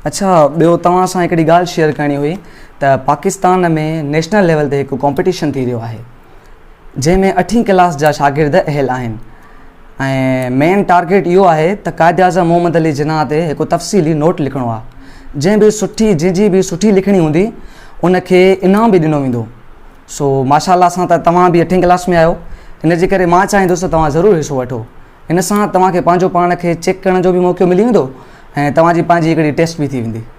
اڇا ٻيو توهان سان هڪڙي ڳالهه شيئر ڪرڻي هئي ته پاڪستان ۾ نيشنل ليول تي هڪ ڪمپٽيشن ٿي رهيو آهي جنهن ۾ اٺين ڪلاس جا شاگرد اهل آهن ۽ مين ٽارگيٽ اهو آهي ته قائداعظم محمد علي جناح تي هڪ تفصيلي نوٽ لکڻو آهي جنهن به سٺي جنهن جي به سٺي لکڻي هوندي ان کي انعام به ڏنو ويندو سو ماشاءالله اسان ته توهان به اٺين ڪلاس ۾ آهيو ان جي ڪري مان چاهيندس ته توهان ضرور حصو وٺو ان سان توهان کي پنهنجو پاڻ کي چيڪ ڪرڻ جو به موقعو ملي ويندو ۽ توهان جي پنهنجي هڪڙي ٽيسٽ به ٿي ويندي.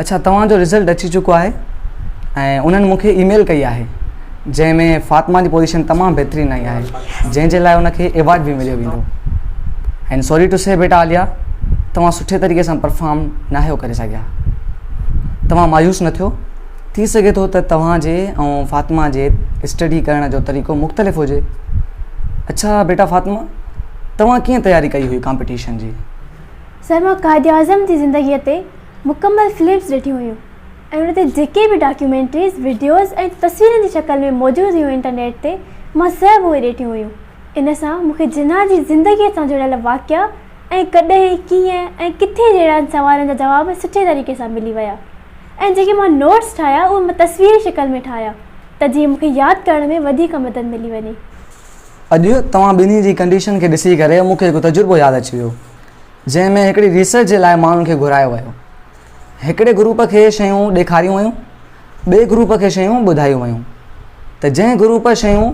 اڇا توهان جو رزلٽ اچي چڪو آهي ۽ انهن مون کي اي ميل ڪئي آهي جنهن ۾ فاطمه جي پوزيشن تمام بهترين آئي آهي جنهن جي لاء ان کي ايوارڊ به مليو ويندو اينڊ سوري ٽو سي بيٽا عاليا توهان سٺي طريقي سان پرفارم ناهيو ڪري سگهيا توهان مايوس نه ٿيو ٿي سگهي ٿو ته توهان جي ۽ فاطمه جي اسٽڊي ڪرڻ جو طريقو مختلف هجي. اڇا بيٽا فاطمه توهان ڪيئن تياري ڪئي هئي ڪامپيٽيشن جي؟ سر مان قائداعظم جي زندگيء تي مڪمل فلمز ڏٺيون هيون ۽ ان تي جيڪي به ڊاڪيومينٽريز، وڊيوز ۽ تصويرن جي شڪل ۾ موجود هيون انٽرنيٽ تي مان سڀ اهي ڏيٺيون هيون. ان سان مون کي جناح جي زندگيء سان جڙيل واقعا ۽ ڪڏهن، ڪيئن ۽ ڪٿي جهڙن سوالن جا جواب سٺي طريقي سان ملي ويا ۽ جيڪي مان نوٽس ٺاهيا اهي مان تصويري شڪل ۾ ٺاهيا ته جيئن مون کي ياد ڪرڻ ۾ وڌيڪ مدد ملي وڃي. اڄ توهان ٻنهي جي ڪنڊيشن کي ڏسي ڪري مون کي هڪ تجربو ياد اچي ويو جنهن ۾ هڪڙي ريسرچ جي لاء ماڻهن کي گهرايو ويو. هڪڙي گروپ کي شيون ڏيکاريون ويون. ٻئي گروپ کي شيون ٻڌايون ويون ته جنهن گروپ شيون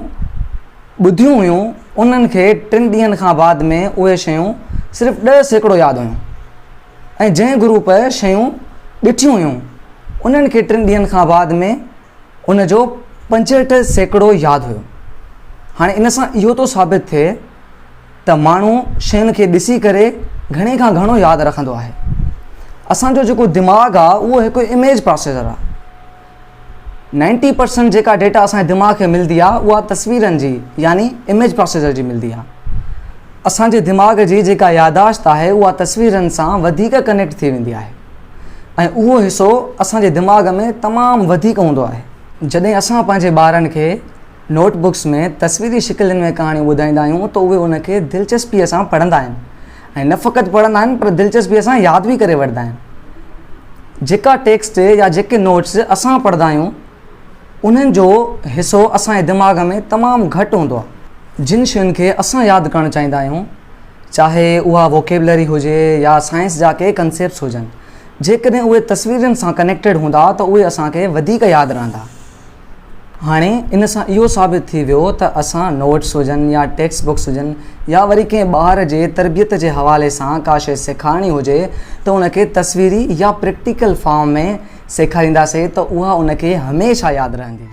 ٻڌيون هيون انهن کي ٽن ڏينهن کان بعد ۾ اهي شيون صرف ڏهه سيڪڙو ياد هيون ۽ جنهن گروپ شيون ڏٺيون هيون انهن کي ٽن ڏينهن کان بعد ۾ ان جو پنجهٺ سيڪڙو ياد هيو هاڻي ان سان اهو ٿو ثابت ٿئي ته ماڻهو شين کي ڏسي ڪري گهڻي کان گهڻو ياد رکندو آهي. اسان جو جيڪو دماغ آهي اهو هڪ اميج پراسيسر آهي. نائنٽي پرسنٽ جيڪا ڊيٽا اسان جي دماغ کي ملندي آهي اها تصويرن جي يعني اميج پراسيسر جي ملندي آهي. اسان جي دماغ جي جيڪا ياداشت آهي اها تصويرن سان وڌيڪ ڪنيڪٽ ٿي ويندي آهي ۽ اهو حصو اسان جي دماغ ۾ تمام وڌيڪ هوندو آهي. جڏهن اسان پنهنجي ٻارن کي نوٽ بڪس ۾ تصويري شڪلين ۾ ڪهاڻيون ٻڌائيندا آهيون ته اهي ان کي دلچسپيء سان پڙهندا آهن ۽ نه فقط پڙهندا آهن پر دلچسپيء سان ياد به ڪري وٺندا آهن. جيڪا ٽيڪسٽ يا جيڪي نوٽس اسان پڙهندا آهيون انهن جو حصو اسان جي دماغ ۾ تمام گهٽ هوندو آهي. جن شين کي اسان ياد ڪرڻ چاهيندا آهيون چاهي اها ووڪيبلري هجي يا سائنس جا ڪي ڪنسيپٽس هجن جيڪڏهن اهي تصويرين سان ڪنيڪٽيڊ هوندا ته اهي اسان کي وڌيڪ ياد رهندا. هاڻي ان سان اهو ثابت ٿي ويو ته اسان نوٽس هجن يا ٽيڪسٽ بڪس هجن يا وري ڪنهن ٻار جي تربيت جي حوالي سان ڪا شيء سيکارڻي هجي ته ان کي تصويري يا پريڪٽيڪل فارم ۾ سيکارينداسين ته اها ان کي هميشه ياد رهندي.